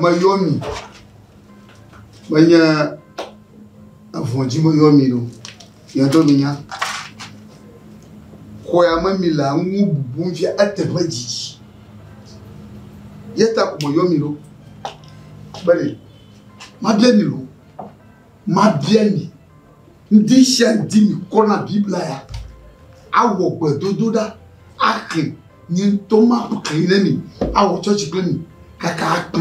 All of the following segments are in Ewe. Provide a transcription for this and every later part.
meyɔ mi menye avɔdzi meyɔ mi ɖo yɛdɔ mi nya xɔya me mi le ŋu bubu fia eteƒe dzidzi yeta ko meyɔ mi ɖo bene mabia mi ɖo Mabia mi, ŋdishandi mi kɔna Biblia ya, awɔ gbedodoɖa, axli, nye ŋtɔ maxli ne mi, awɔ tsɔtsi kple mi kaka akpe.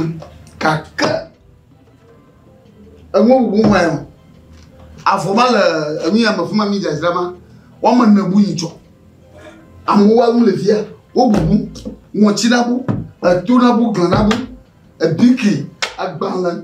Gake eŋu bubu ŋue o. Avɔ ma le enuya me fuma mi dzadzra ma, woame ne bu yi tsɔ. Amewo wa nu le fia, wo bubu, ŋɔtsi na bu, eto na bu, glan na bu, ebiki, agbalẽ,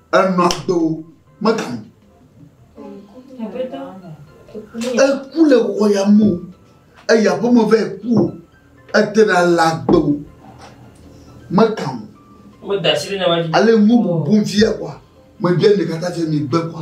Enɔ agbe o, megamu. Eku le wɔyame o, eye aƒeme vɛ ku o, ete ɖa le agbe o, megamu. Ale ŋu bubu via kua, mebia ɖeka ta fia mi gbe kua.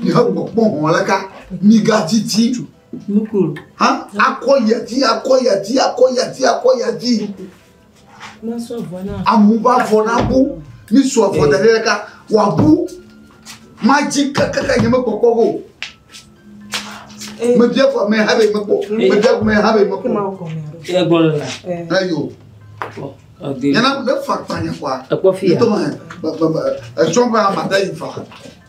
Mìawɔ kpɔ hɔ̃ aleka migadidi hã akɔ ya dzi akɔ ya dzi akɔ ya dzi akɔ ya dzi. Amewo va vɔ na bu misu avɔ da ɖe ɖeka wòabu madzi kakaka nye mekpɔkpɔ o. Mebia fɔ mɛ ha be mekpɔ mebia mɛ ha be mekpɔ. Eyo. Nyana ne fa kpanya kɔa. Ekpɔ fi ya. Etɔ ma etsɔ ba ma da yi fa.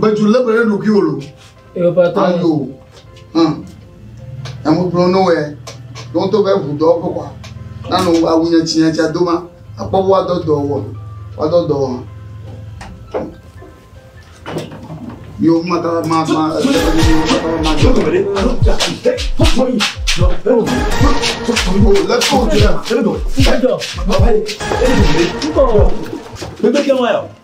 Betu lé be ɖe ɖokui wò lo. Ayo. Hum. Emu kplɔ no wɛ. Ɖo to be ʋu dɔ ƒe kwa. Nanu awu nye tsi nye tsi ado ma. Akpɔ wo adɔ dɔ wɔ. Wa dɔ dɔ wɔ. Yo mata ma ma. Let's go. Let's go. Let's go. Bebe kɛ ŋwa yɔ.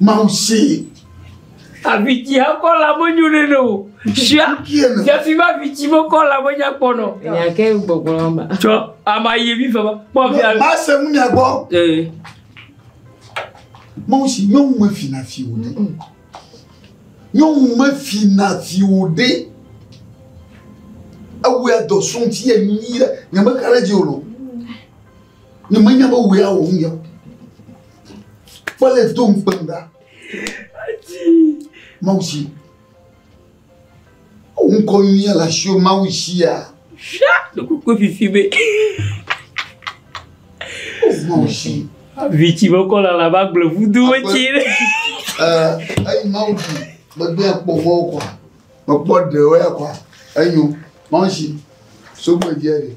Mawu see. Avitsi ekɔ la menyo ne ne o. Sia yafi ma avitsi mekɔ la menya kpɔ nɔ. Nyake gbɔgbɔ ma. Tsɔ ama yi mi fama. Kpɔ fi alo. Ba se mu nya gbɔ. Ee. Mawu si nyɔnu me fi na fi o ne. Nyɔnu me fi na fi o de. Ewu ya dɔ sun ti ye nyi ye nyame kare dzi o lo. Ne menya be wòe awɔ nu ya o. Kpɔ le do ŋukpem ɖa. Ati. Mawu si. Wo ŋkɔ nyuia le asi o Mawu sia. Fia ɖokoko fifi be. O Mawu si. Vitsi be kɔ lala ba gblɔ vudo wetsi. Ɛɛ eyi Mawu si megbe akpɔ fɔ kɔ. Mekpɔ ɖewo ya kɔ. Enyo Mawu si. Sogbe dia de.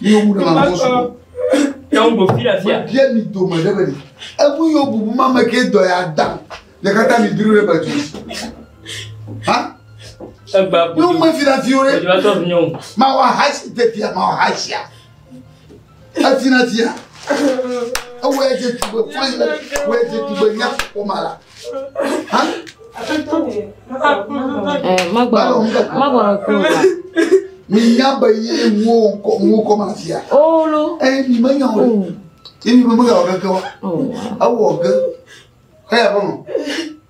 Mi yo bu na mo so. Ya un bo fira fia. Bia mi do ma de bani. Ebu yo bu ma me ke do ya da. Ya kata mi biru re batu. Ha? Egba bu. Yo me fira fiore. Ma wa hasi te fia ma wa hasi ya. Eti na tia. Ewɔe dze tugbe fain le. Ewɔe dze tugbe nya kpɔ ma la. Ha? Magbɔnɔ magbɔnɔ kuro la. Mi nya be ye wo kɔ wo kɔ ma tia. Olo. Ɛ mi me nya o. Ye mi me me ga o keke wa. Awɔ ge. Ɛ yɛ bɔ nɔ.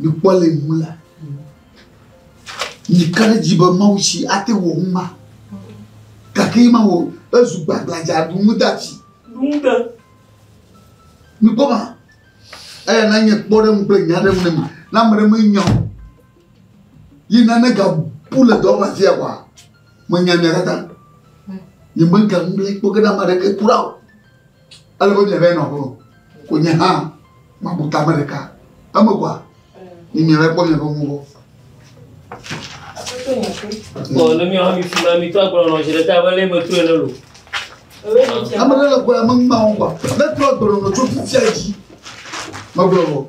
Mikpɔ le ŋu la, mika ɖe dzi be Mawu si ate wɔ ŋu ma, gake ma wɔ ezu gbagladza ɖu ŋu da dzi. Ŋuɖe. Mikpɔ ma, eya na nye kpɔ ɖe ŋu kple nya ɖe ŋu ne mi, na ame ɖe menya o. Yi nane gabu le dɔ ƒe afia kɔa, menya mia katã. Nye mega ŋu le kpɔ ge na ame aɖeke kura o. Ele be miave nɔ ƒe o. Ko nye hã mabu ta ame ɖeka. Eme kɔa? Mi miava kpɔ miaƒe ŋu gbɔ. Ɔ ne míawo hã mi fi ma mi tɔ agblɔ nɔ zi ɖeka be lé metu ene lo. Ame ɖe le gbɔ ya meŋma wo kɔa. Ne tɔ agblɔ nɔ tso fifia dzi. Megblɔ o.